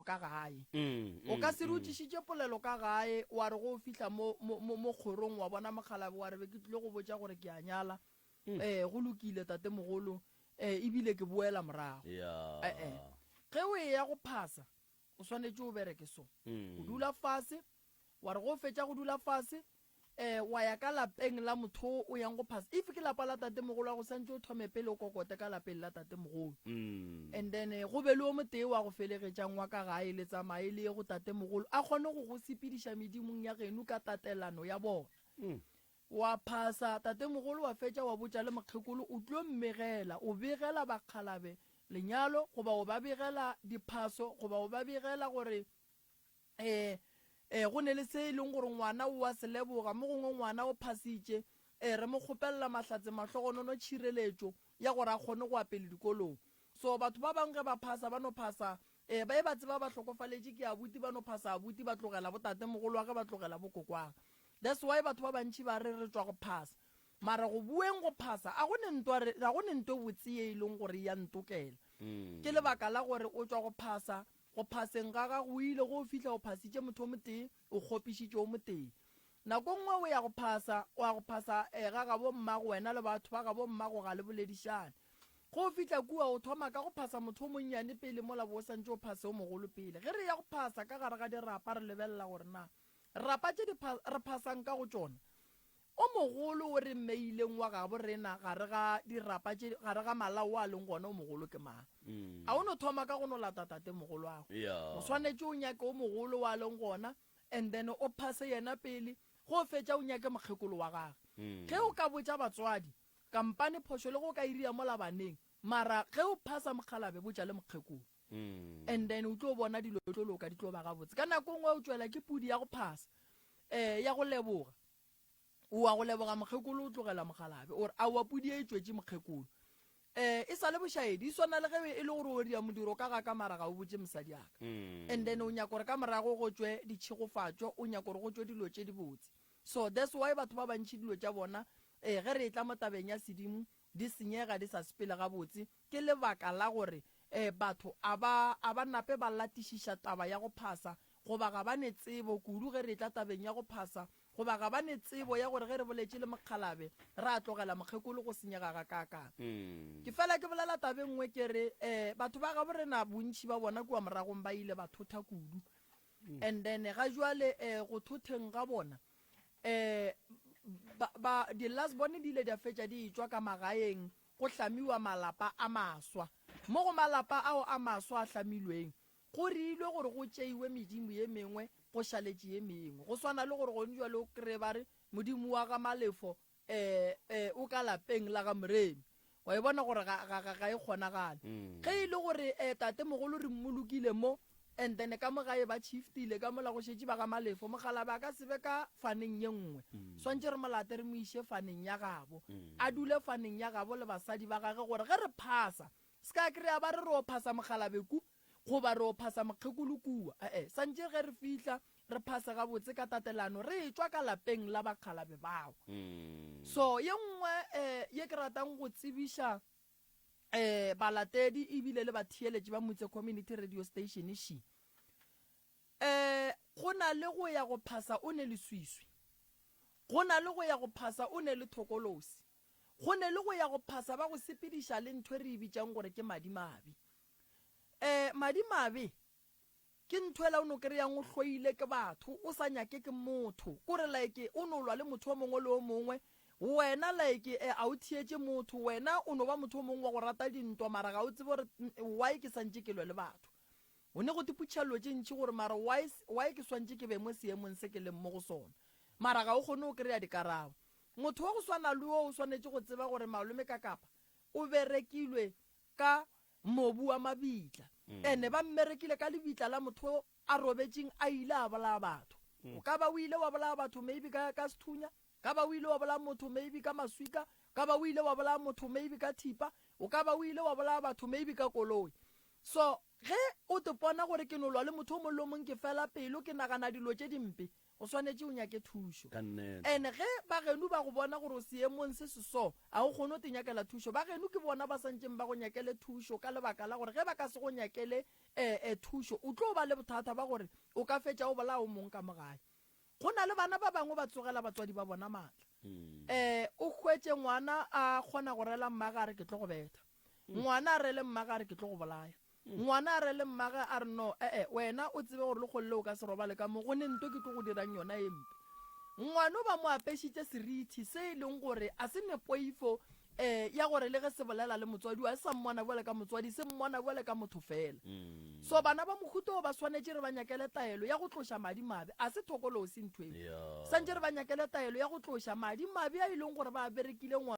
ka gae. O ka se re o tlišitše polelo ka gae, wa re go o fihla mo, mo, mo, mo kgorong wa bona mokgalabje, wa re be ke tlile go botša gore ke a nyala. Ee, go lokile, tatemogolo. Ee, e bile ke boela morago. Ee. Ge o eya go phasa, o swanetše o bereke so. O dula fase, wa re go o fetša go dula fase, um wa ya ka lapeng la motho o o yang go phasa if ke lapa la tatemogolo wa go santse o thome pele o kokote ka lapeng la tatemogolo and then eh, go be le o motee wa go felegetšang wa ka gae le tsamaye le ye go tatemogolo a kgone go go sepediša medimong ya genu ka tatelano ya bona wa phasa tatemogolo wa fetša wa botša le mokgekolo o tlo mmegela o begela bakgalabe lenyalo goba o ba begela diphaso goba o ba begela gore Ee, ee, go ne le se e leng gore ngwana o a se leboga, mo gongwe ngwana o phasitše. Ee, re mo kgopelela mahlatse, mahlogonono, tšhireletšo ya gore a kgone go apele dikolong. So, batho ba bangwe ge ba phasa, ba no phasa, ee, ba e ba tseba ba hlokofaletše ke abuti, ba no phasa abuti, ba tlogela botatemogolwa ge ba tlogela bokokwag. That's why batho ba bantši ba re re tšwa go phasa. Mara go bueng go phasa, a go ne nto re, a go ne nto e botse ye e leng gore e ya ntokela. Ke lebaka la gore o tšwa go phasa, Go phaseng ga gago o ile go o fihla o phasitše motho o motee, o kgopišitše o motee. Nako nngwe o ya go phasa, o a go phasa eh, ga gabommago, wena le batho ba gabommago ga le boledišane. Ge o fihla kua, o thoma ka go phasa motho o monnyane pele mola bo o santše o phase o mogolo pele. Ge re eya go phasa ka gare ga dirapa re lebelela gore na rapa tše re phasang ka go tšona O mogolo o re mmeileng wa gabo rena gare ga dirapa tše, gare ga malao wa leng gona o mogolo ke mang? A o no thoma ka go no lata tatemogolwago? O swanetše o nyake o mogolo wa leng gona and then o phase yena pele, ge o fetša o nyake mokgekolo wa gage. Ge o ka botša batswadi, kampane phošo le ge o ka e ria mola baneng, mara ge o phasa mokgalabje botša le mokgekolo. and then o tlo bona dilo tlo loka di tlo ba gabotse ka nako ngwe o tšwela ke pudi ya go phasa um ya go leboga oa go leboga mokgekolo o tlogela mogalabe ore a wa pudi e tswetše mokgekolo um e sa le bošaedi e swana le ge e le gore o ria modiro ka ga ka mara ga o botse mosadi aka mm. and then o nyako gore ka morago go tswe ditšhegofatšo o nyako gore go tswe dilo tše dibotse so that's why batho ba bantšhi dilo tša bona um ge re e tla mo tabeng ya sedimo Di senyega di sa sepele gabotse ke lebaka la gore ee batho a ba a ba nape ba latišiša taba ya go phasa goba ga ba ne tsebo kudu ge re etla tabeng ya go phasa goba ga ba ne tsebo ya gore ge re boletše le mokgalabe ra tlogela mokgekolo go senyega ga ka ka. Ke fela ke bolela taba e nngwe ke re ee batho ba gabo rena bontši ba bona kua moragong ba ile ba thotha kudu And then ga jwale eh, go thotheng ga bona eh, ba, ba, di last bone di ile di a fetša di etswa ka magaeng go hlamiwa malapa a maswa mo go malapa ao a maswa a hlamilweng go riilwe gore go tšeiwe medimo ye mengwe go šaletše ye mengwe go swana le gore gone jwale o kry ba re modimo wa ga malefo Ee, ee, o ka lapeng la ga Moremi. Wa e bona gore ga, ga, ga, ga e kgonagale. Ge e le gore ee, tatemogolo re mmolokile mo, and then ka mo gae ba shiftile, ka mola go šetše ba ga Malefo, mokgalabje a ka se be ka faneng ye nngwe. Swantše re mo late re mo iše faneng ya gabo. A dule faneng ya gabo le basadi ba gage gore ge re phasa, se ka kry-a ba re re o phasa mokgalabje ku, Goba re o phasa Mokgekolo kua? Ee, santše ge re fihla, re phase gabotse ka tatelano, re etšwa ka lapeng la bakgalabje bao. So, ye nngwe ye ke ratang go tsebiša balatedi e bile le batheeletši ba Mutse Community Radio Station še, go na le go ya go phasa o ne le swiswi, go na le go ya go phasa o ne le thokolosi, go ne le go ya go phasa ba go sepediša le ntho e re e bitšang gore ke madimabe. Ee, madimabe ke nthwela o no kry-ang o hloile ke batho, o sa nyake ke motho. Kore like o no lwa le motho o mongwe le o mongwe, wena like eh, a o thietše motho, wena o no ba motho o mongwe wa go rata dintwa mara ga o tsebe gore why ke swantše ke lwe le batho. O ne go te putšha llo tše ntši gore mara why, why ke swantše ke be mo seemong se ke leng mo go sona. Mara ga o kgone go kry-a dikarabo. Motho wa go swana le wo o swanetše go tseba gore Malome Kakapa o berekilwe ka mobu wa mabitla, and ba mmerekile ka lebitla la motho o a robetšeng a ile a bolaya batho. O ka ba o ile wa bolaya batho maybe ka, ka sethunya, ka ba o ile wa bolaya motho maybe ka maswika, ka ba o ile wa bolaya motho maybe ka thipa, o ka ba o ile wa bolaya batho maybe ka koloi. So ge o te pona gore ke no lwa le motho o mongwe le o mongwe ke fela pelo, ke nagana dilo tše dimpe, O swanetše o nyake thušo. And ge bagenu ba go bona gore o seemong se se so, a o kgone go te nyakela thušo? Bagenu ke bona ba santšeng ba go nyakele thušo ka lebaka la gore ge ba ka se go nyakele eh-eh thušo, o tlo ba le bothata ba gore o ka fetša o bolaya o mong ka mo gae. Go na le bana ba bangwe ba tsogela batswadi ba bona maatla. Eh, o hwetše ngwana a kgona go rela mmagare, Ke tlo go betha. Ngwana a rele mmagare, Ke tlo go bolaya. Ngwana a re le mmage a re, No, e-e, wena o tsebe gore lekgolo le o ka se robale ka mo go ne nto ke tlo go dirang yona ye mpe. Ngwano ba mo apešitše serithi se e leng gore a se ne poifo e ya gore le ge se bolela le motswadi wa e sa mmona bjale ka motswadi, se mmona bjale ka motho fela. So bana ba mohuta o ba swanetše re ba nyakele taelo ya go tloša madi mabe, a se thokolosi ntho e. Swantše re ba nyakele taelo ya go tloša madi mabe a e leng gore ba a berekile ngwana.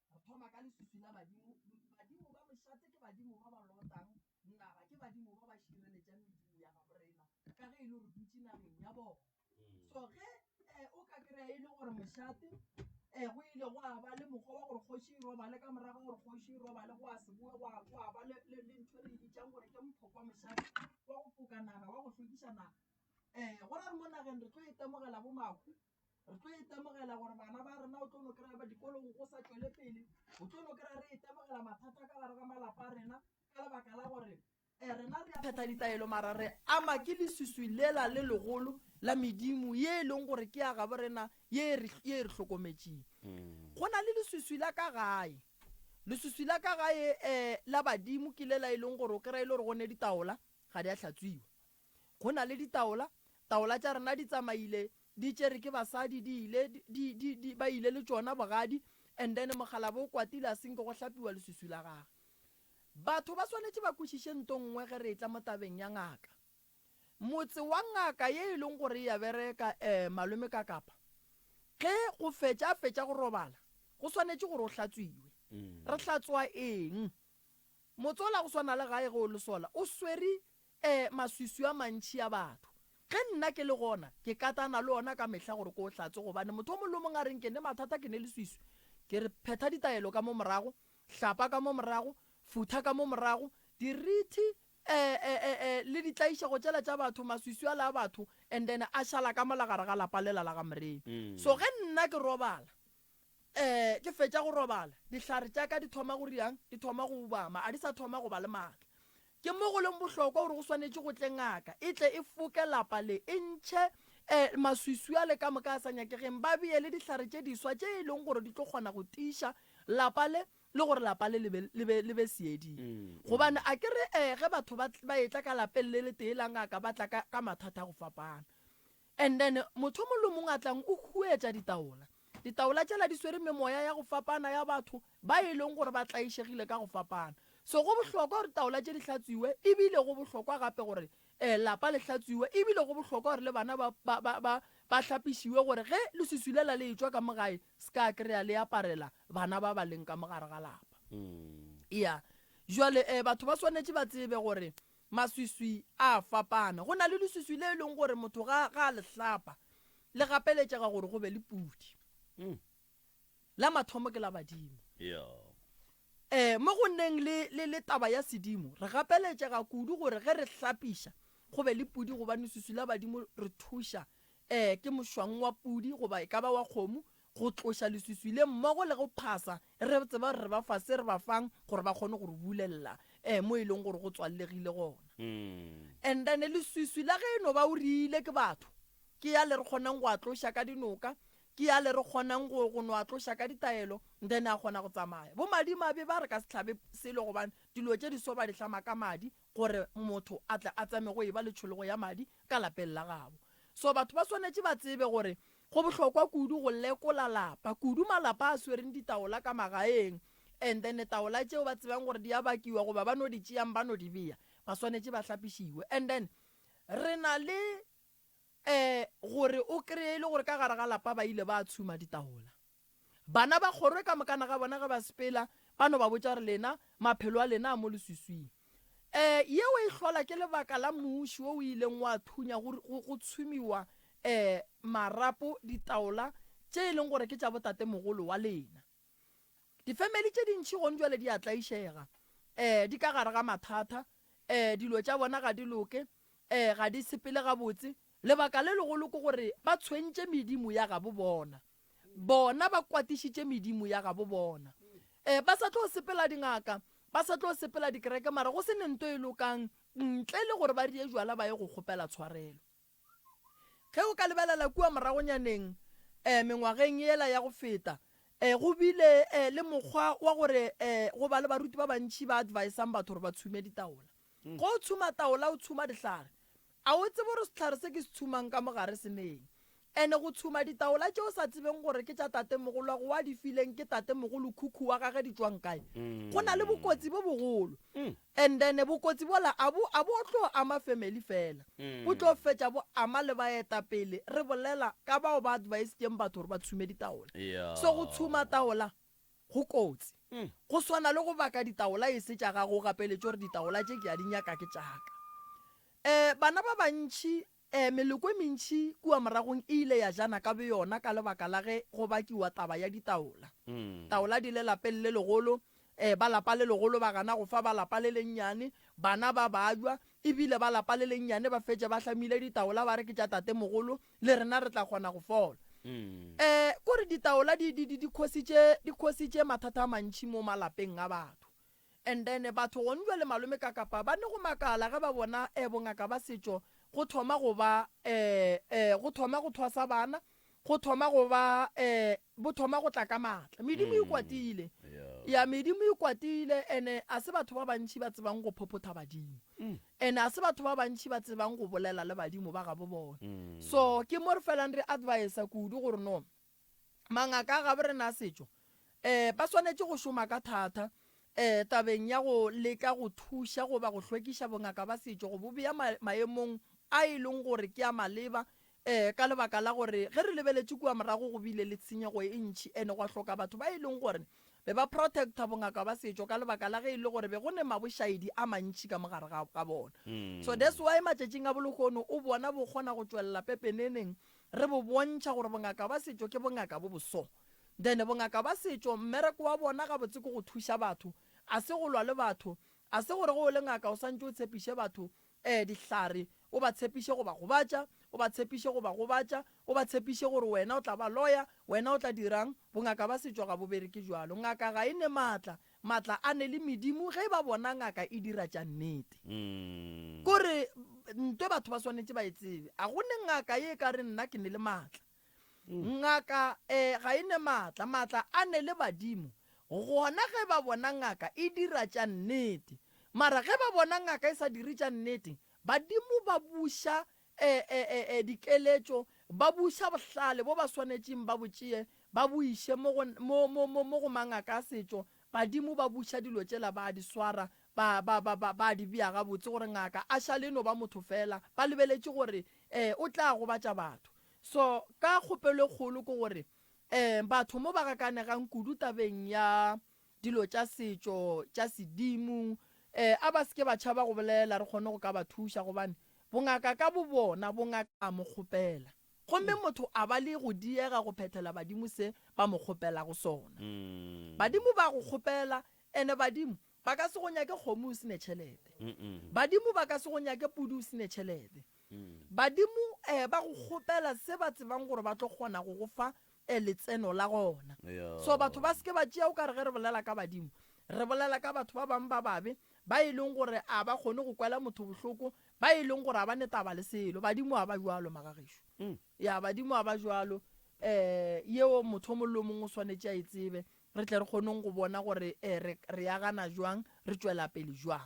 re thoma ka leswiswi la badimo badimo ba mošate ke badimo ba ba lotang naga ke badimo ba ba šireletšang medimo ya gabo rena ka ge e le gore dutše nageng ya bona mm. so ge um o ka kry-a e le gore mošate um go ile go a ba le mokgwa wa gore kgoši e robale ka morago gore kgoši e robale go a seboe go a ba le ntho e re e bitsang gore ke mphokwa mošate wa go foka naga wa go tlhokiša naga um go ra re mo nageng re tlo e temogela bo mako re tlo itemogela gore bana ba rena o tlo no kry-a ba dikolong go sa tswele pele o tlo no kry-a re itemogela mathata ka gare ga malapa a rena ka lebaka la gore um rena re a phetha ditaelo mara re ama ke lesuswi lela le legolo la medimo ye e leng gore ke ya gabo rena ye e re hlokometseng mm. go na le lesuswi la ka gae lesuswi la ka gae um la badimo ke lela e leng gore o kry-a e le gore go ne ditaola ga di a hlatswiwa Go na le ditaola, taola tša rena di tsamaile di tšere ke basadi di ile di, di, di, ba ile le tšona bogadi, and then mokgalabje o kwatile a senke go hlapiwa leswiswi la gage. Batho ba swanetše ba kwešiše nto nngwe ge re etla mo tabeng ya ngaka. Motse wa ngaka ye e leng gore e a bereka, eh, malome ka kapa, ge go fetša a fetša go robala, go swanetše gore o hlatswiwe. Re hlatswa eng? Motse ola go swana le gae ge o le sola, o swere E, maswiswi a mantši a batho. Ge nna ke le gona, ke katana le ona ka mehla gore ke o hlatse gobane motho o mongwe le o mongwe a reng ke ne mathata, ke ne leswiswi. Ke re, phetha ditaelo ka mo morago, hlapa ka mo morago, futha ka mo morago, dirithi, e, e, e, e, le ditlaišego tšela tša batho, maswiswi ala a batho, and then a šala ka mola gare ga lapa lela la ga Morena. So ge nna ke robala, Ee, ke fetša go robala, dihlare tša ka di thoma go riang, di thoma go ubama, ga di sa thoma go ba le matla. Ke mo go leng bohlokwa gore go swanetše go tle ngaka e tle e foke lapa le, e ntšhe ee maswiswi ale ka moka a sa nyakegeng, ba bee le dihlare tše diswa tše e lego gore di tlo kgona go tiiša lapa le le gore lapa le le be le be seeding. Gobane a ke re ee ge batho ba ba etla ka lapeng le letee la ngaka ba tla ka ka mathata a go fapana. And then motho o mong le o mong a tlang o huetša ditaola. Ditaola tšela di swere memoya ya go fapana ya batho ba e leng gore ba tlaišegile ka go fapana. So go bohlokwa gore taola tše di hlatswiwe ebile go bohlokwa gape gore eh lapa le hlatswiwe ebile go bohlokwa gore le bana ba, ba, ba, ba, ba hlapišiwe gore ge leswiswi lela le etšwa ka mo gae ska kry-a le aparela bana ba ba leng ka mo gare ga lapa. Ea. Jwale eh batho ba swanetše ba tsebe gore Maswiswi a a fapana. Go na le leswiswi le e leng gore motho ga, ga a le hlapa, le gapeletšega gore go be le pudi. La mathomo ke la badimo. E, mo go nneng le, le, le taba ya sedimo, re gapeletšega kudu gore ge re hlapiša go be le pudi gobane leswiswi la badimo re thuša. E, ke mošwang wa pudi goba e ka ba wa kgomo go tloša leswiswi le mmogo le go phasa, re tseba gore re ba fa se re ba fang gore ba kgone go re bulelela um mo e leng gore go tswallegile gona. And then leswiswi la ge e no ba o riile ke batho, ke ya le re kgonang go a tloša ka dinoka, ke ya le re kgonang go go no a tloša ka ditaelo, then a kgona go tsamaya. Bo madimabe ba re ka se hlabe selo gobane dilo tše di so ba di hlama ka madi gore motho a tle a tsame go e ba le tšhologo ya madi ka lapeng la gabo. So batho ba swanetše ba tsebe gore Go bohlokwa kudu go lekola lapa, kudu malapa a swereng ditaola ka magaeng, and then taola tšeo ba tsebang gore di a bakiwa goba ba no di tšeang ba no di bea, ba swanetše ba hlapišiwe. And then re na le um gore o kry-e e le gore ka gare ga lapa ba ile ba tshuma ditaola. Bana ba kgorwe ka mokana ga bona ge ba sepela, ba no ba botša gore, Lena, maphelo a lena a mo leswiswing. Um yeo e hlola ke lebaka la mmuši wo o ileng wa thunya go, go, go tshumiwa um marapo ditaola tše e leng gore ke tša botatemogolo wa lena. Difemeli tše dintši gong jwale di a tlaišega, um di ka gare ga mathata, um dilo tša bona ga di loke, um ga di sepele gabotse, Lebaka le legolo ke gore ba tshwentše medimo ya gabo bona. Bona ba kwatišitše medimo ya gabo bona. Ee, ba sa tlo sepela dingaka, ba sa tlo sepela dikereke, mara go se ne nto e lokang ntle le gore ba rie jwala ba ye go kgopela tshwarelo. Ge o ka lebelela kua moragonyaneng, ee, mengwageng yela ya go feta, ee, go bile, ee, le mokgwa wa gore, ee, go ba le baruti ba bantši ba advisang batho gore ba tshume ditaola. Ge o tshuma taola o tshuma dihlare. A o tsebe gore sehlare se ke se tshumang ka mo gare se neng? Ene go tshuma ditaola tše o sa tsebeng gore ke tša tatemogolwago wa di fileng ke tatemogolo khukhu wa gage di tšwang kae, go na le bokotsi bo bogolo. And then bokotsi bola a bo a bo tlo ama family fela, bo tlo fetša bo ama le baetapele, re bolela ka bao ba advisitšeng batho gore ba tshume ditaola. So go tshuma taola Go kotsi. Go swana le go baka ditaola e se tša gago o gapeletše gore ditaola tše ke a di nyaka ke tša ka. E, bana ba bantši, e, meloko e mentši kua moragong e ile ya jana ka boyona ka lebaka la ge go bakiwa taba ya ditaola. Taola di le lapeng le legolo, e, ba lapa le legolo ba gana go fa ba lapa le lennyane, bana ba bajwa, e bile ba lapa le lennyane ba fetše ba hlamile ditaola ba re ke tša tatemogolo, le rena re tla kgona go fola. um kore ditaola di di di di khositše di khositše mathata a mantši mo malapeng a batho and then batho gone jwa le malome ka kapa ba ne go makala ge ba bona um bongaka ba setšo go thoma go ba um um go thoma go thwasa bana go thoma go ba um bo thoma go tla ka maatla medimo e kwatile ya medimo e kwatile ene a se batho ba bantši ba tsebang go phophotha badimo And ga se batho ba bantši ba tsebang go bolela le badimo ba gabo bona. So ke mo re felang re advisa kudu gore no mangaka a gabo rena a setšo um ba swanetše go šoma ka thata um tabeng ya go leka go thuša goba go hlwekiša bongaka ba setšo go bo bea maemong a e leng gore ke a maleba Ee, ka lebaka la gore ge re lebeletše kua morago go bile le tshenyego e ntši e ne gwa hloka batho ba e leng gore be ba protecta bongaka ba setšo ka lebaka la ge e le gore be go ne mabošaedi a mantši ka mo gare ga ga bona. So that's why matšatšing a bolohono o bona bo kgona go tšwelela pepeneneng re bo bontšha gore bongaka ba setšo ke bongaka bo bo so. Then bongaka ba setšo mmereko wa bona gabotse ke go thuša batho, a se go lwa le batho, a se gore ge o le ngaka o swantše o tshepiše batho Ee, dihlare. O ba tshepiše go ba gobatša. O ba tshepiše go ba gobatša. O ba tshepiše gore wena o tla ba loya. Wena o tla dira'ng? Bongaka bja setšo ga bo bereke bjalo. Ngaka ga e ne matla. Matla a ne le medimo ge e ba bona ngaka e dira tša nnete. Ko re, Ntwe batho ba swanetše ba e tsebe. A go ne ngaka ye e ka re nna ke ne le matla. Ngaka e, ga e ne maatla. Maatla a ne le badimo. Gona ge ba bona ngaka e dira tša nnete. Mara ge ba bona ngaka e sa dire tša nnete, badimo ba buša e, e, e, e, dikeletšo, ba buša bohlale bo ba swanetšeng ba bo tšee ba bo iše mo go, mo, mo, mo, mo go mangaka a setšo. Badimo ba buša dilo tšela, ba a di swara, ba, ba, ba, ba, ba di bea gabotse gore ngaka a šale e no ba motho feela. Ba lebeletše gore e, o tla gobatša batho. So, ka kgopelo e kgolo ke gore, um, batho mo ba gakanegang kudu tabeng ya dilo tša setšo, tša sedimo, um, a ba se ke ba tšhaba go bolela, re kgone go ka ba thuša, gobane bongaka ka bobona bo ngaka a mo kgopela, gomme motho a ba le go diega go phethela badimo se ba mo kgopelago sona. Badimo ba go kgopela, ene badimo ba ka se go nyake kgomo o se ne tšhelete. Badimo ba ka se go nyake pudi o se ne tšhelete. Badimo ba go kgopela se ba tsebang gore ba tlo kgona go go fa letseno la gona. So batho ba se ke ba tšea o ka re ge re bolela ka badimo re bolela ka batho ba bangwe ba babe ba e leng gore a ba kgone go kwela motho bohloko, ba e leng gore ga ba ne taba le selo. Badimo ga ba bjalo, magagešo. Ya, badimo ga ba bjalo. Um yeo motho o mongwe le o mongwe o swanetše a e tsebe re tle re kgoneng go bona gore re re agana bjang, re tšwela pele bjang.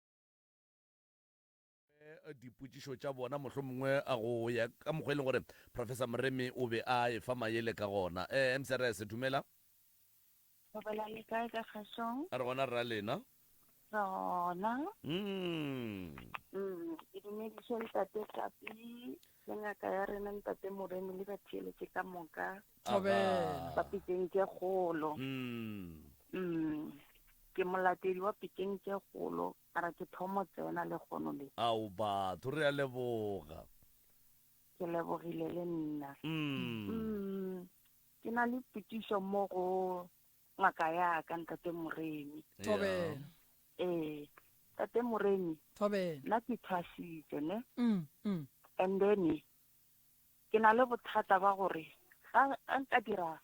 dipotšišo tša bona, mohlomongwe go ya ka mokgwa e leng gore Professor Moremi o be a efa mayele ka gona. MCRS, Dumela. Dumela, le kae ka kgešong? Re gona rra lena. Re gona. Mmmm. Mmmm, ke dumediše Ntate Tlapii. Le ngaka ya rena Ntate Moremi le batheeletše ka moka Thobela. ba Pikeng tše Kgolo. Mm. Mm, ke molatedi wa Pikeng tše Kgolo, ka ra ke thomo tsena le kgono le. Ao batho, re a leboga. Ke lebogile le nna. Mm. Mm, ke na le potšišo mo go ngaka ya ka ntate moremi Thobela. ee ntate moremi Thobela. nna ke thwasitse ne Mm, mm. and then ke na le bothata ba gore ga ga nka dira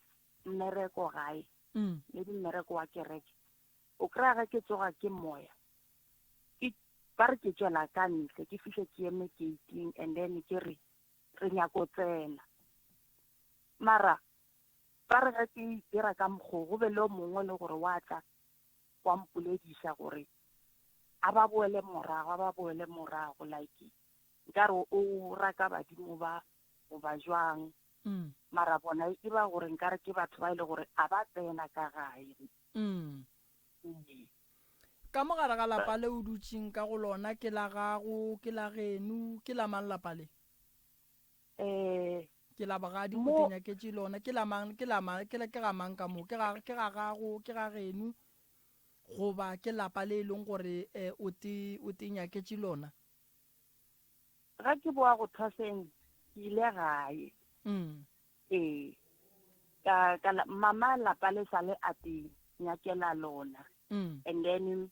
mmereko gae Mm. maybe mmereko wa kereke o kry-a ge ke tsoga ke moya ke ba re ke tšwela ka ntle ke fihle ke eme gating and then ke re re nyako tsena mara Ba re ge ke dira ka mokgo, go be le o mongwe e le gore wa tla wa mpolediša gore a ba boele morago, a ba boele morago, like nkare o raka badimo ba goba jwang. Mm. Mara bona e ba gore nkare ke batho ba e le gore a ba tsena ka gae. Mm. Ee. Ka mogare ga lapa le o dutšeng ka go lona ke la gago, ke la geno, ke la mang lapa le? Ee. Ke la bogadi, o tenyaketše lona. Ke la mang? Ke la mang? Ke ga mang ka mo? Ke ga, ke ga gago? Ke ga geno? Goba ke lapa le e leng gore um o te, o tenyaketše lona? Ga ke boa go thwaseng, ke ile gae. Mm. Ee. Ka, ka la, mama lapa le sa le a te nyakela lona. Mm. And then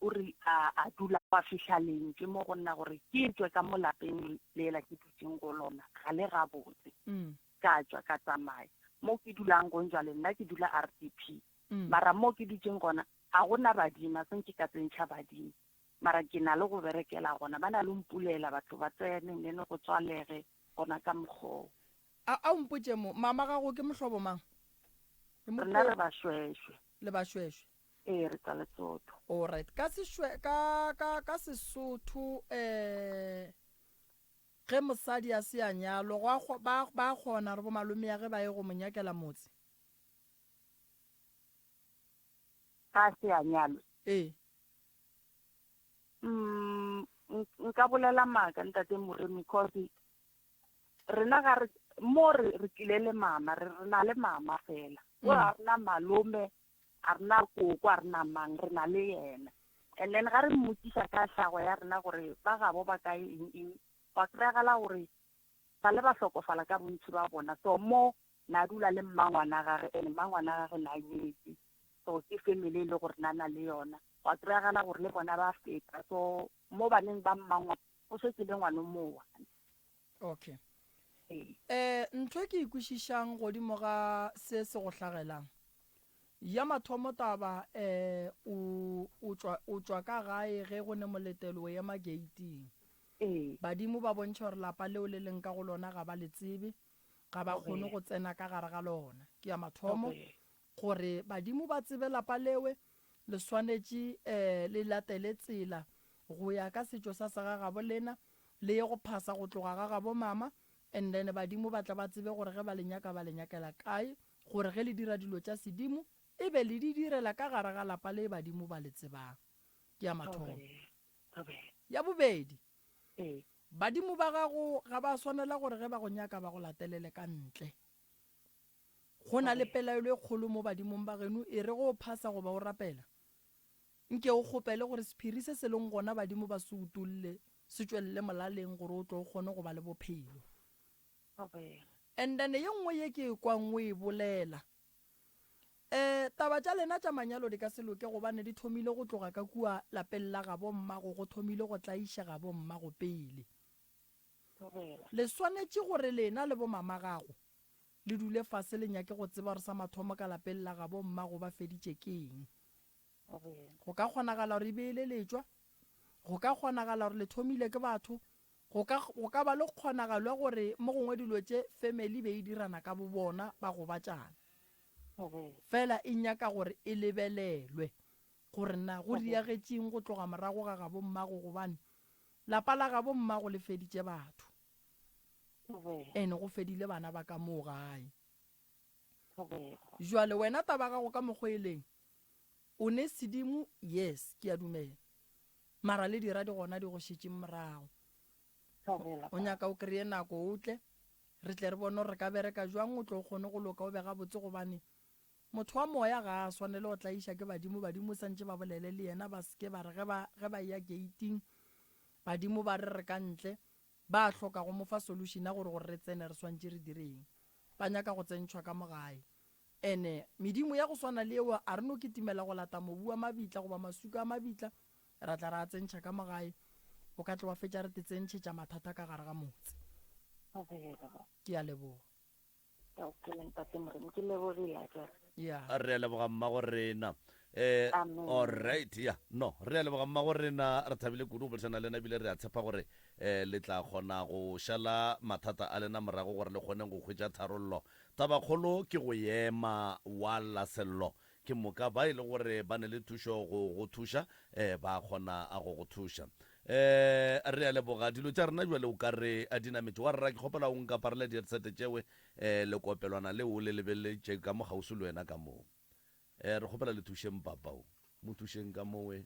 O re a a dula gwa fihla leng ke mo go nna gore ke tšwe ka mo lapeng lela ke dutšeng go lona ga le gabotse. Ka tšwa ka tsamaya mo ke dulang gong jwale nna ke dula RDP mara mo ke dutšeng gona ga go na badimo a se nke ka tsentšha badimo mara ke na le go berekela gona ba na le mpulela batho ba tsene nene go tswalege gona ka mokgoo. A a o mpotše mo mama gago ke mohlobo mang? Rena re Bašwešwe. Le Bašwešwe. Ee, re tsa Lesotho. Alright, ka sešwe, ka, ka, ka Sesotho, eh, ge mosadi a se a nyalwa, go a kgo, ba, ba kgona gore bomalomea ge ba ye go mo nyakela motse? Ga a se a nyalwa? Ee. Umm, nk, nka bolela maaka, Ntate Moremi, cause rena ga re, mo re, re tlile le mama, re, re na le mama fela. Go ga rena malome. A re na koko, a re na mang, re na le yena. And then ga re mmotšiša ka hlago ya rena gore ba gabo ba kae eng eng, gwa kry-agala gore sa le ba hlokofala ka bontši ba bona. So mo na dula le mmangwana gage and mmangwana gage na nyetše. So ke family e le gore na na le yona. Gwa kry-agala gore le bona ba feta. So mo baneng ba mmangwana go šetše le ngwano mo one. Ok. Um, ntho e ke e kwešišang godimo ga se se go hlagelang, ya mathomo taba, um, o, o tšwa, o tšwa ka gae ge go ne moletelo o ema geiting. Ee. Badimo ba bontšha gore lapa leo le leng ka go lona ga ba le tsebe, ga ba kgone go tsena ka gare ga lona. Ke ya mathomo. Okay. Gore badimo ba tsebe lapa lewe, le swanetše le latele tsela go ya ka setšo sa se ga gabo lena, le ye go phasa go tloga ga gabo mama, and then badimo ba tla ba tsebe gore ge ba le nyaka ba le nyakela kae, gore ge le dira dilo tša sedimo e be le di direla ka gare ga lapa le badimo ba le tsebang. Ke ya mathomo. Ya bobedi, badimo ba gago ga ba swanela gore ge ba go nyaka ba go latelele ka ntle. Go na le pelaelo e kgolo mo badimong ba genu, e re ge o phasa goba o rapela, nke o kgopele gore sephiri se se leng gona badimo ba se utolle se tšwelele molaleng gore o tle o kgone go ba le bophelo. And then ye nngwe ye ke e kwang o e bolela, um taba tša lena tša manyalo di ka se loke gobane di thomile go tloga ka kua lapeng la gabo mmago, go thomile go tlaišega bo mmago pele. thobela. Le swanetše gore lena le bomamagago le dule fase le nyake go tseba gore sa mathomo ka lapeng la gabo mmago ba feditše ke eng. Thobela. Go ka kgonagala gore e be e le letšwa, go ka kgonagala gore le thomile ke batho, go ka, go ka ba le kgonagalo ya gore mo gongwe dilo tše family be e dirana ka bobona ba gobatšana. Thobela. Fela e nyaka gore e lebelelwe gore na go Thobela. diagetšeng go tloga morago ga gabo mmago gobane Lapa la gabo mmago le feditše batho and go fedile bana ba ka moo gae. Jwale wena taba ya gago ka mokgwa e leng o ne sedimo yes ke a dumela mara le dira di gona di go šetše morago. O nyaka o kreye nako o tle re tle re bone gore re ka bereka jwang o tle o kgone go loka o be gabotse gobane Motho wa moya ga a swanele go tlaiša ke badimo, badimo santše ba bolele le yena, ba se ke ba re ge ba, ge ba eya geiting, badimo ba re re ka ntle, ba a hloka go mo fa solution ya gore gore re tsene re swantše re dire eng. Ba nyaka go tsentšhwa ka mo gae. And medimo ya go swana le yeo a re no kitimela go lata mobu wa mabitla goba masuka a mabitla, ra tla ra a tsentšha ka mo gae, o ka tloga fetša re te tsentšhetša mathata ka gare ga motse. Ke a leboga. Ka o phele ntate Moremi, ke lebogile a jwale. ya a re a leboga mmago rena um Amen. allright ya no re a leboga mmago rena re thabile kudu go bolesana le lena ebile re a tshepa gore um le tla kgona go šala mathata a lena morago gore le kgoneng go hwetša tharollo tabakgolo ke go ema wa lasello Ke moka ba e le gore ba ne le thušo go go thuša, ee, ba a kgona go go thuša. Ee, re a leboga. Dilo tša rena bjale o ka re di nametše. Wa rra, ke kgopela o nkaparele diersete tšewe, ee, lekopelwana leo o le lebeletše ka mo kgauswi le wena ka moo. Ee, re kgopela le thušeng papa o. Mo thušeng ka mo, ee.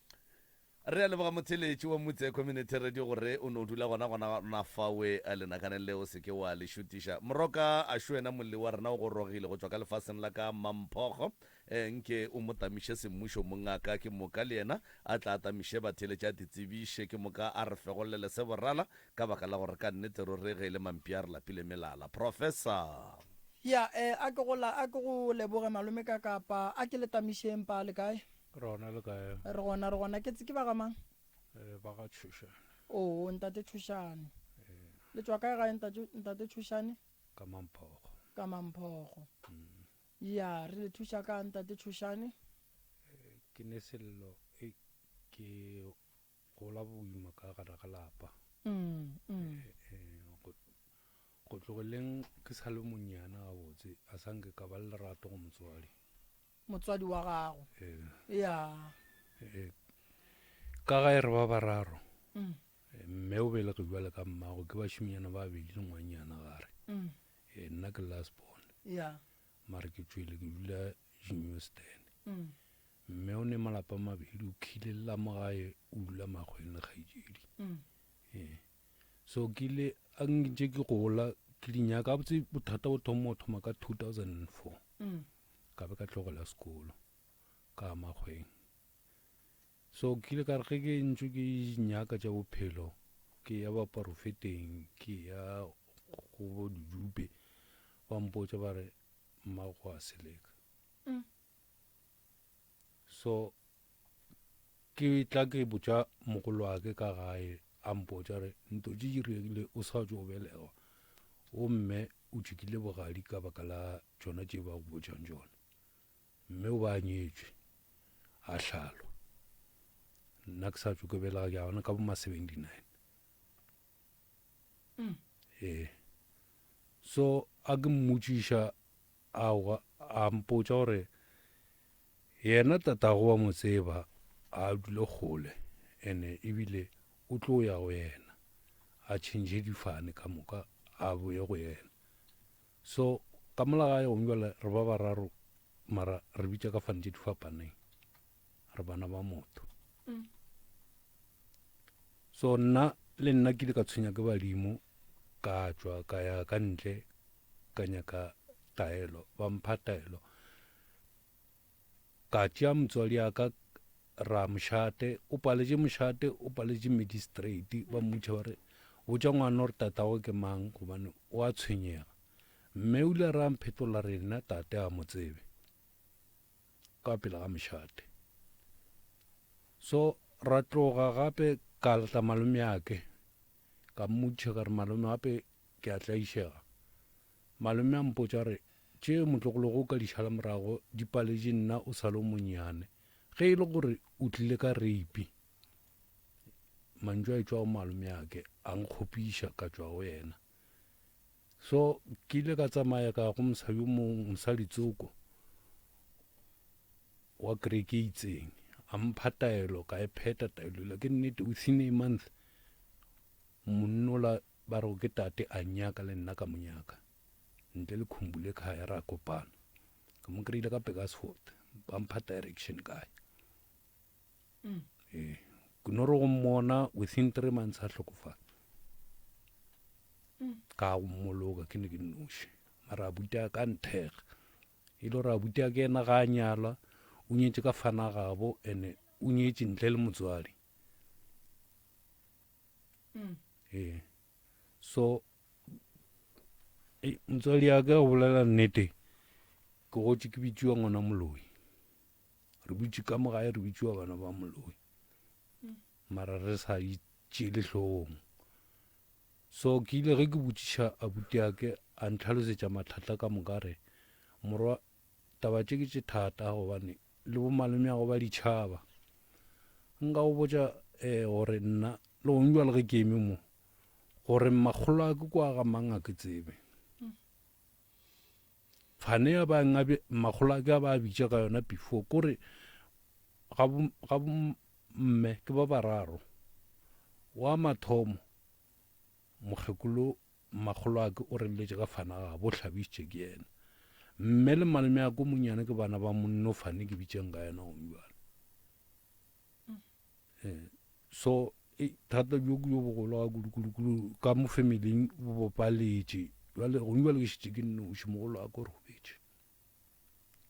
Re a leboga motheeletši wa Mutse Community Radio gore o no dula gona gona gona fawe lenakaneng le o se ke wa le šutiša. Moroka Ashu ena molli wa rena o gorogile go tšwa ka lefaseng la ka Mamphokgo. Nke o mo tamiše semmušo mongaka ke moka le yena a tla atamiše batheeletši a te tsebiše ke moka a re fegollele se borala ka baka la gore ka nnete ruri ge e le mampi a re lapile melala. Professor. Ya ee a ke go la a ke go leboge malome ka kapa a ke le tamišeng pa le kae? Re gona le kae? Re gona, re gona. Ke ke ba ga mang? Eh, ba ga Tshošane. Oo, ntate Tshošane. Eh. Le tswa kae gae ntate, ntate Tshošane? Ka Mamphogo. Ka Mamphogo. Mm. Ya, re le thuša ka ntate Tshošane? Eh, ke ne sello, eh, ke gola boima ka gare ga lapa. Mm, mm. Eh, eh, go, go tlogeleng ke sa le monyana gabotse, a sa nke ka ba le lerato go motswadi. motswadi wa gago. Ya. Ka ga e re ba bararo. Mm. Mme o belege jwale ka mmago ke bašiminyana ba bedi le ngwanyana gare. Mm. E nna ke last born. Ya. Mare ke tšwele ke dula Jinyostan. Mm. Mme o ne malapa mabedi o khile la mo gae o dula magweng le kgaitsedi. Mm. E. So ke ile a ngintše ke gola ke dinyaka botse bothata bo thoma o thoma ka 2004. Mm. ka be ka tlogela sekolo ka ya makgweng so ke ile ka re ge ke ntšwe ke nyaka tša bophelo ke ya baporofeteng ke ya go bo didupe ba mpotsa ba re mmago a seleka mm. So ke tla ke botša mogolo wa ke ka gae a mpotša re nto tše di regile o sa tšo belegwa o mme o tšhikile bogadi ka baka la tšona tše ba go botšang tšona mme o ba nyetšwe a hlalo nna ke sa tšo ke belega ke a bona ka boma 79 mm. ee so a ke mmotšiša A hwa, a mpotša gore yena tatago wa mo tseba, ga a dule kgole, ene e bile o tlo ya go yena, a tšhentšhe difane ka moka, a boye go yena. So, ka mola gae gong bjale re ba bararo, mara re bitša ka fane tše di fapaneng. re bana ba motho mm. so nna le nna ke ile ka tshwenya ke badimo ka tswa ka ya ka ntle ka nyaka taelo ba mpha taelo ka tšea motswadi ya ka ra mošate o paletše mošate o paletše magistrate ba mmutšha ba re botša ngwana gore tatago ke mang gobane o a tshwenyega mme o ile ra mphetola rena tate a mo tsebe Ka pela ga mošate. So ra tloga gape ka tla malomeake, ka mmotšiša ka re, Malome, gape ke a tlaišega. Malome a mpotša a re, Tše motlogologo o ka di šala morago di paletše nna o sa le o monnyane. Ge e le gore o tlile ka reipi. Mantšu a etšwa go malomeake a nkgopiša ka tšwa go yena. So ke ile ka tsamaya ka go mosha yo mong mosadi tsoko wa kereke e itseng a mpha taelo ka e pheta taelo la ke nnete within a month monnola ba re ke tate a nyaka le nna ka monyaka ntle le khumbule khaya ra kopana ka mo kry-ile ka pegasford ba mpha direction kae mm. e eh, kunoro go mmona within three months a hlokofala mm. ka go mmoloka ke ne ke noši mara abuti a ka nthega e le gore abuti a ke ena ga a nyalwa o nyetse ka fana gabo and-e o nyetse ntle le motswadi mm. ee eh, so motswadi ya ka go bolela nnete ke gotse ke bitsiwa ngwana moloi re butše ka mo gae re bitšiwa bana ba moloi mara re sa itšele hlogong so ke ile ge ke botšiša abuti ake a ntlhalosetša mathata ka moka re morwa taba tše ke tše thata gobane le bomalome ya go ba ditšhaba nka go botša um gore nna le gong jwa le ge ke eme mo gore makgolo a ke kwa ga mang a ke tsebe Fane ya ba nga be makgolo a ka ba bitša ka yona before kore ga bo ga bo mme ke ba bararo wa mathomo mokgekolo makgolo a ke o reletse ka fana ga bo hlabisitše ke yena mme le malome ya ko monyane ke bana ba monno fane ke bitseng ka yena o jwale mm. eh, so e, thata jo jo bogolo ga kudu-kudu-kudu ka mo familing bo bopaletše jale gone jale ke šetse ke nnoši mogolo a ko robetše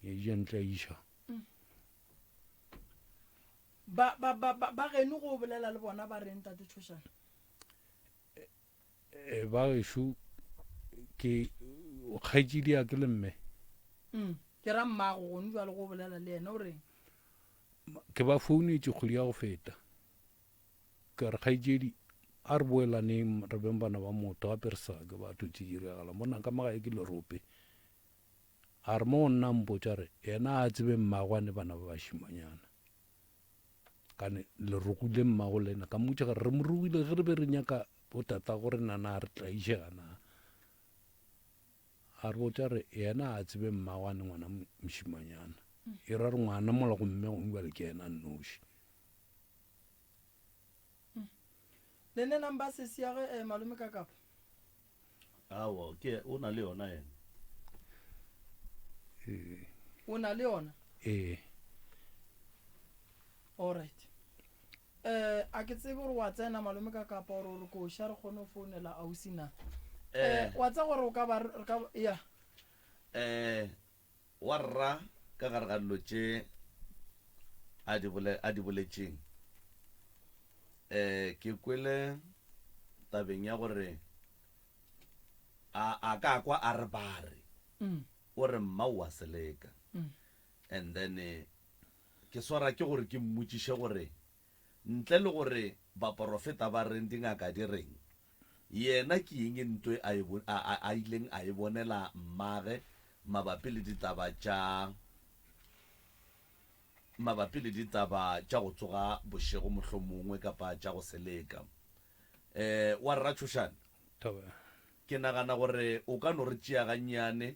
e jentle iša ba ba ba ba ba geno go bolela le bona ba reng tate tshošana Eh, ba gešo ke kgaetšedi ya ke le mme mm, ke ra mmago gone jwale go bolela le ena o reng ke ba founetše kgwedi ya go feta ka re kgaetšedi a re boelaneng re beng bana ba motho gape re sa ke batho tse diragala mo naka magae ke lerope a re mo o nnang potša re yena a tsebe mmagwane bana ba bašimanyana kane le rogile mmago le ena ka mmotša gare re mo rogile ge re be re nyaka botata gore nana a re tlaišega na a re botša re yena a tsebe mmago a ne ngwana mošimanyana e ra re ngwana mola gomme gongwe bale ke yena nnoši le nne nang ba sesiage um eh, malome ka kapa Aowa, ke, o na le yona yena. Ee. O na le yona? Ee. All right. Eh, a ke tsebe gore wa tsena malome ka kapa gore gore ko sha re kgone go founela ausi na. Eh, wa tsa gore o ka ba re ka ya. Eh, Wa rra ka gare ga dilo tše a di a di boletšeng, ke kwele tabeng ya gore a a ka kwa a re bare o re mma o a se leka. And then ke swara ke gore ke mmotšiše gore ntle le gore baporofeta ba reng, dingaka di reng, Yena ke eng ntwe a a ileng a e bonela mmage mabapi le ditaba tša mabapi le ditaba tša go tsoga bošego mohlomongwe kapa tša go se leka? E, wa rra Tšhošane, ke nagana gore o ka no re tšea gannyane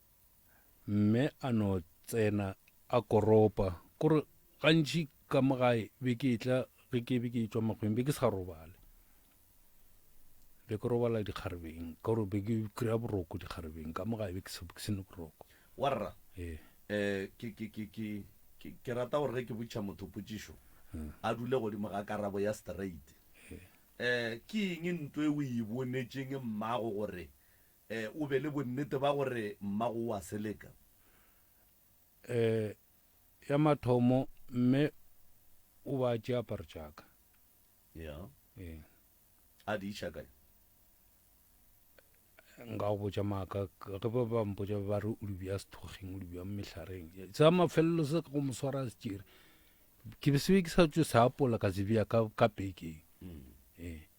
Mme a no tsena a koropa. Kore gantši ka mo gae be ke etla ge ke be ke tšwa makgweng be ke sa robale. Be ke robala dikgarebeng ka gore be ke kry-a boroko dikgarebeng ka mo gae be ke se ne boroko. Warra, ke rata gore ge ke botšiša motho potšišo a dule godimo ga karabo ya straight. Ke eng nto e o e bonetšeng mmago gore Ee, o be le bonnete ba gore mmago o a se leka? Ee, ya mathomo, mme o ba a tšea aparo tša ka. Ya. Ee. A di iša kae? nka go botša maaka ge ba ba mpotša ba re o di bja sethogeng o di bja mehlareng sa mafelelo se ka go mo swara a se tšere ke be sebe ke sa tso se apola ka se bja ka ka pekeng mm. ee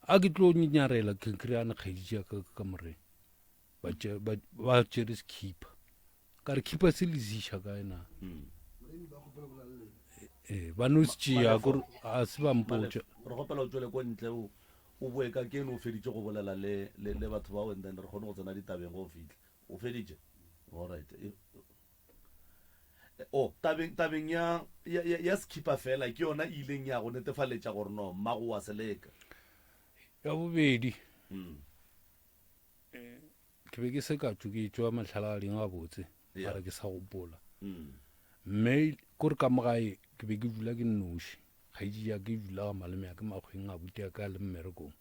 A ke tlo nyarela ke kry-ana kgaedi ja ka ka moreng ba tšere sekhipa ka re khipa se lesiša ka ena hmm. ee eh, ba no se tšea kore a se ba mpotša re gopela o tswele ko ntle o o boe ka ke no o feditše go bolela le le batho bao and then re kgone go tsena ditabeng go o fitlha o feditše all right Oh, tabeng, tabeng ya, ya, ya, ya sekhipa feela, ke yona e ileng ya go netefaletša gore no mmago wa se leka. Ya bobedi, mm. ke be ke se ka tšo ke tšwa mahlalagading a botse, yeah. mara ke sa gopola. Mm. Mme kore ka mogae ke be ke dula ke nnoši, kgaetši ya ke dula ga malome ya ke makgweng a bute ya ka le mmerekong,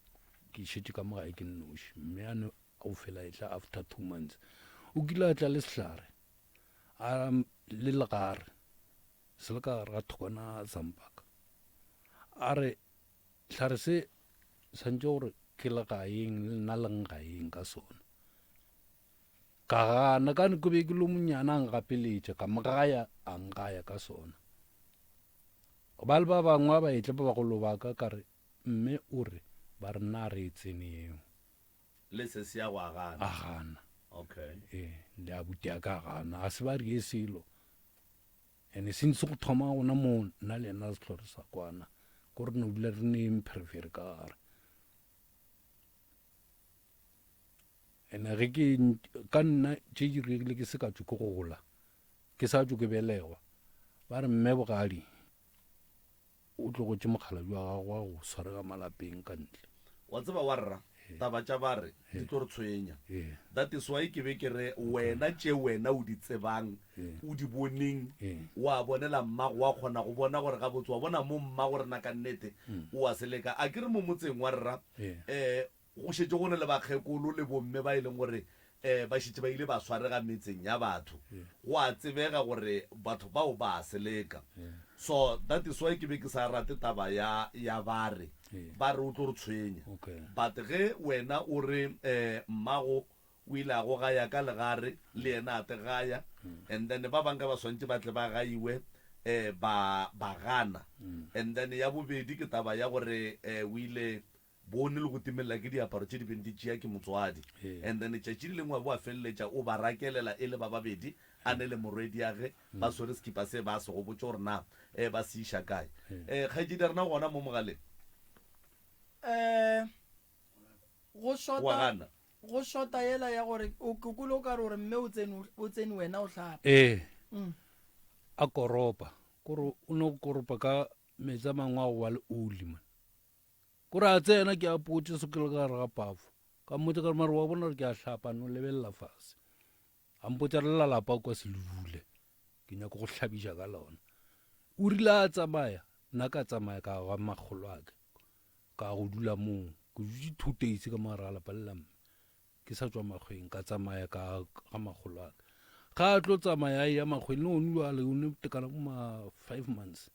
ke šetše ka mogae ke nnoši, mme Go fela etla after two months. O kile a tla le sehlare, a le legare, se le ka gare ga thokwana sa mpaka. A re, hlare se, santšo gore ke le gaeng, le nna leng gaeng ka sona. Ka gana, ka ne ke be ke lo monyana a ngapeletša, ka mogaya, a ngaya ka sona. Ba le ba bangwe ba etle ba bagolo ba ka, ka re, mme o re, ba re na re e tseneng. Le se se ya go a gana. A gana. Okay. Eh, le a buti a ka gana. A se ba rie selo. Ene since go thoma gona mo nna le ena se tlhore sa kwana. Ko re no dula re ne impherefere ka gare. Ene ge ke ka nna tše di regile ke se ka tšo ke gola. Ke sa tšo ke belegwa. Ba re mme bogadi O tlogetše mokgalabje wa gagwe wa go swarega malapeng ka ntle. Wa tseba, warra, taba tša bare di tlo re tshwenya. That is why ke be ke re, wena tše wena o di tsebang, o di boneng, o a bonela mmago, wa kgona go bona gore gabotse, wa bona mo mmago rena ka nnete o a se leka. A ke re mo motseng, warra, eh, Go šetše go na le bakgekolo le bomme ba e leng gore ba šetše ba ile ba swarega metseng ya batho. Go a tsebega gore batho bao ba a seleka. So that is why ke be ke sa rate taba ya ya ba re, ba re o tlo re tshwenya. But ge wena o re mmago o ile a go gaya ka legare, le yena a te gaya, and then ba bang ka ba swantše ba tle ba gaiwe ba ba gana. And then ya bobedi ke taba ya gore o ile bone le go timelela ke diaparo tše di beng di tšea ke motswadi and then letšatši le lengwe wa bo a feleletša o ba rakelela e le ba babedi a ne le morwediage ba swere sekipa se ba se go botše gore na um ba se iša kae um kgaetšedi rena gona mo mogaleng um go shota go shota yela ya gore o kukule o ka re gore mme o tsene o tsene wena o hlapa ee a koropa kore o no koropa ka metsi a mangwe a go ba le oli man Ko re a tsena ke a potše se ke le ka gare ga pafo. Ka mmotsa ka re mare wa bona gore ke a hlapa no lebelela fase. A mpotsa re lalapa kwa se le dule. Ke nyako go hlabiša ka lona. O rile a tsamaya nna ka tsamaya ka ga makgolo a ke. Ka go dula moo ke dutse two days ka mo ra lapa le la mme. Ke sa tswa makgweng ka tsamaya ka ga makgolo a ke. Ga a tlo tsamaya ya makgweng le one o a le one tekana mo ma five months.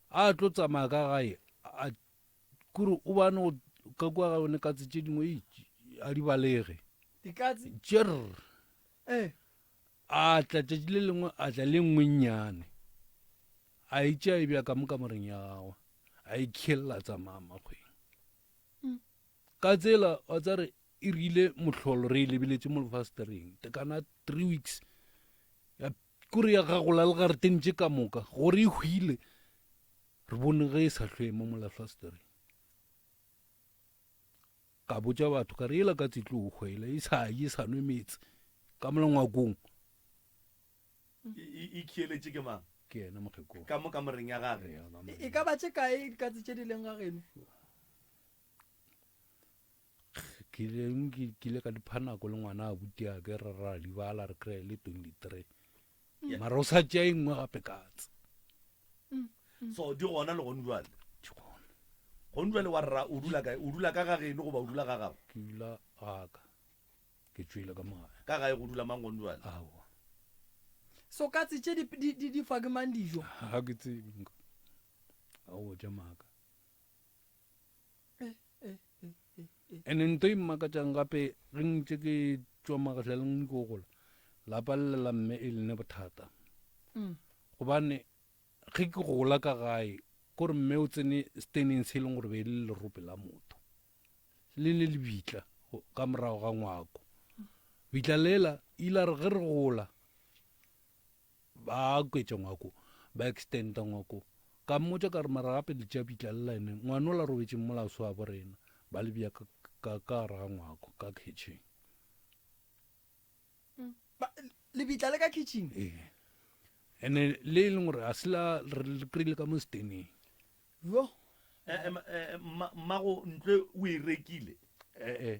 A tlo tsamaya ka gae a kore o bane go ka kwa ga yone katse tše dingwe a di balege tšer eh. a tla tšatši le lengwe a tla le nngwe nnyane a itše a e bja ka mo kamoreng ya gagwe a e khelela tsamaya makgweng mm. ka tsela wa tsa re e rile mohlolo re e lebeletše mo lefastereng tekana three weeks ya Kore ya gagola le gareteng tše ka moka, gore e hwile, re bone ge e sa hlwemo mola hlastereng. Ka botša batho, ka re yela ka tsitlo o hwele, e sa ye, e sa nwe metse, ka mola ngwakong. E khieletše ke mang? Ke yena mokgekolo. Ka mo kamoreng ya gage. E ka ba tše kae dikatse tše di leng ga geno? Kgileng ke kile ka dipha nako le ngwana abuti ake ra ra di bala re kry le 23 mara o sa tšea e nngwe gape katse so di gona le gone jwale ke gona gone jwale wa rra o dula kae o dula ka ga geno goba o dula ga gago ke dula gaka ke tswile ka mogae ka gae go dula mang gone jwale aowa so katse tše di di di di fa ke mang dijo ga ke tsebe nka a o ja maka Ene nto e mmakatšang gape ge ntše ke tšwa magahlaleng niko go gola, lapa le la mme e lene bothata. Gobane ge ke gola ka gae, kore mme o tsene steneng se e leng gore be e le lerope la motho. Le ne le bitla ka morago ga ngwako. Bitla lela ile a re ge re gola, Ba kwetša ngwako, ba extenda ngwako. Ka mmotša ka re, Mara gape le tšea bitla lela ene ngwane o la robetšeng mola o se wabo rena? Ba le bea ka, ka, ka gare ga ngwako, ka khitšhing. Ba, lebitla le ka khitšhing? Ee. Ene le e leng gore ga se la, re le kry-ile ka mo seteneng. Yoh. Eh, eh, eh, mma, mmago ntlwe o e rekile? Eh, eh.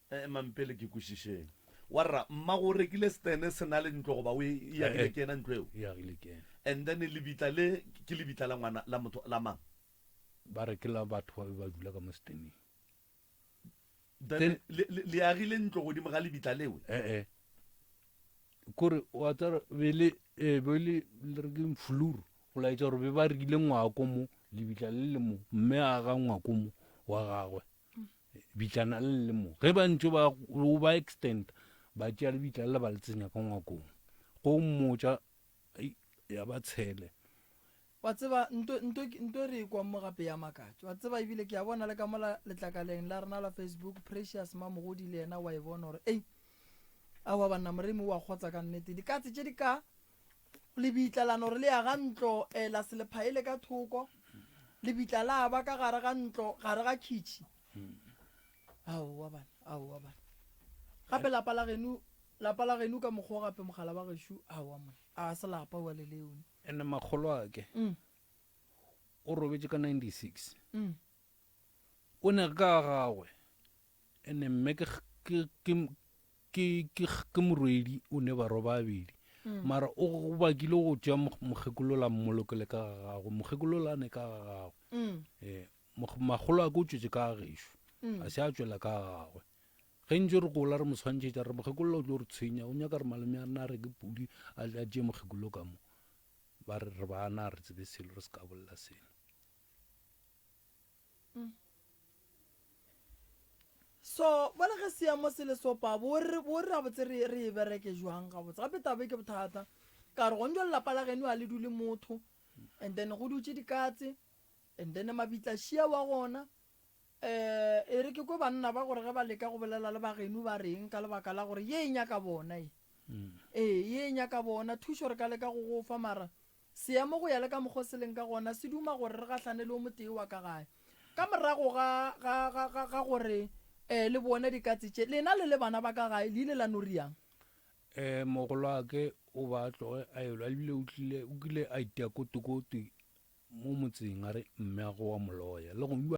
Ee, Mampele, ke kwešišeng. Warra, mmago o rekile stene se na le ntlo goba o e, e agile ke yena ntlo eo? E agile ke yena. And then lebitla le, ke lebitla la ngwana, la motho, la mang? Ba re ke la batho ba be ba dula ka mo steneng. Then Then- le, le, le agile ntlo godimo ga lebitla leo? Ee. Kore, wa tsara, be le, ee, be le, le re keng flur, go laetša gore be ba rekile ngwako mo, lebitla le le mo, mme a aga ngwako mo, wa gagwe. Lebitla-na le le mo. Ge ba ntše ba o ba extenda, ba tšea lebitla le ba le tsenya ka ngwakong. Go mmotša, Ei, ya ba tshele. Wa tseba, nto, nto, nto re ekwa mo gape ya makatša. Wa tseba, ebile ke a bona le ka mola letlakaleng la rena la Facebook, Precious Mamogodi le yena wa e bona gore, ei, aowa banna, Moremi o a kgotsa ka nnete. Dikatse tše di ka, Lebitla la no re le ya ga ntlo, e la se lephaele ka thoko. Lebitla la ba ka gare ga ntlo, gare ga khitšhi. Aowa bana, aowa bana. Gape lapa la genu, lapa la genu ka mokgwa o gape mogala wa gešu, aowa monna, a se lapa wa le leone. Ene makgolo ake, o robetše ka 96. O ne ka ga gagwe, ene mme ke, ke, ke, ke, ke, ke morwedi o ne barwa ba abedi. Mm. Mara o bakile go tšea mokgekolola mmolokele ka ga gagwe. Mokgekolola a ne ka ga gagwe. Mm. Eh, magolo a ke o tšwetše ka gešo. Mm. A se a tšwela ka ga gagwe. ge ntse re gola re mo tshwantšhetša re mokgekolola o tlo re tshwenya o nyaka re malome a rena a re ke pudi a tšee mokgekolo ka mo ba re re bana re tsebe selo re se ka bolela selo Mm. so bale ge seemo se le sopa bo re gabotse re e bereke jwang gabotse gape tabe ke bothata ka re gonjo lelapa la geno a le dule motho and then go dutse dikatse and then mabitla šia wa gona um e re ke ko banna ba gore ge ba leka go bolela le bageno ba reng ka lebaka la gore ye e nyaka bona e mm. ee ye e nyaka bona thušo re ka leka go gofa mara Seemo go ya le ka mokgwa o se leng ka gona se duma gore re gahlane le o motee wa ka gae. Ka morago ga, ga, ga, ga, ga gore ee le bone dikatse tše, lena le le bana ba ka gae le ile la no riang? Ee, mogolwake o ba a tloge a elwa, ebile o tlile, o kile a itia kotokoto mo motseng, a re, Mmeago wa Molloya, le go.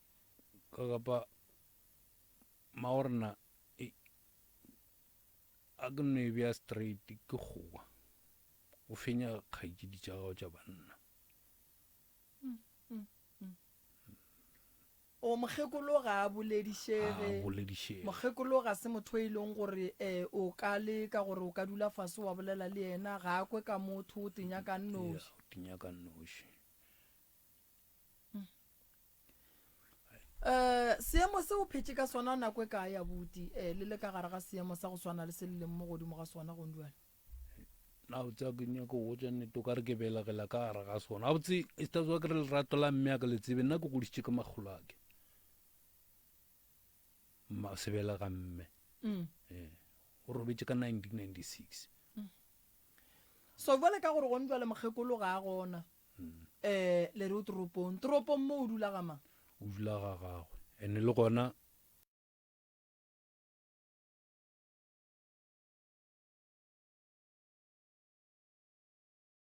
ka gapa maorna e a ke nno e bea straight ke kgowa o fenya kgaitšedi tša gago tša banna o mokgekolo ga a boledišege mokgekolo ga se motho e leng gore um o ka le ka gore o ka dula fase wa bolela le yena ga a kwe ka motho o tenya ka nnoši Eh, seemo se o phetše ka sona nako e kae abuti eh, le le ka gare ga seemo sa go swana le se le leng mo godimo ga sona gong jale na o tsaya ke nyako go tswa nnete o ka re ke belegela ka gare ga sona a botse e se tswa ke re lerato la mme a ke le tsebe nna ke godisitše ke makgolo ake ma se belega mme mm. eh, o robetse ka 1996 mm. so jale ka gore gong jale mokgekolo ga a gona Ee, le re o toropong. Toropong mo o dula ga mang? O dula ga gagwe. Ene le gona.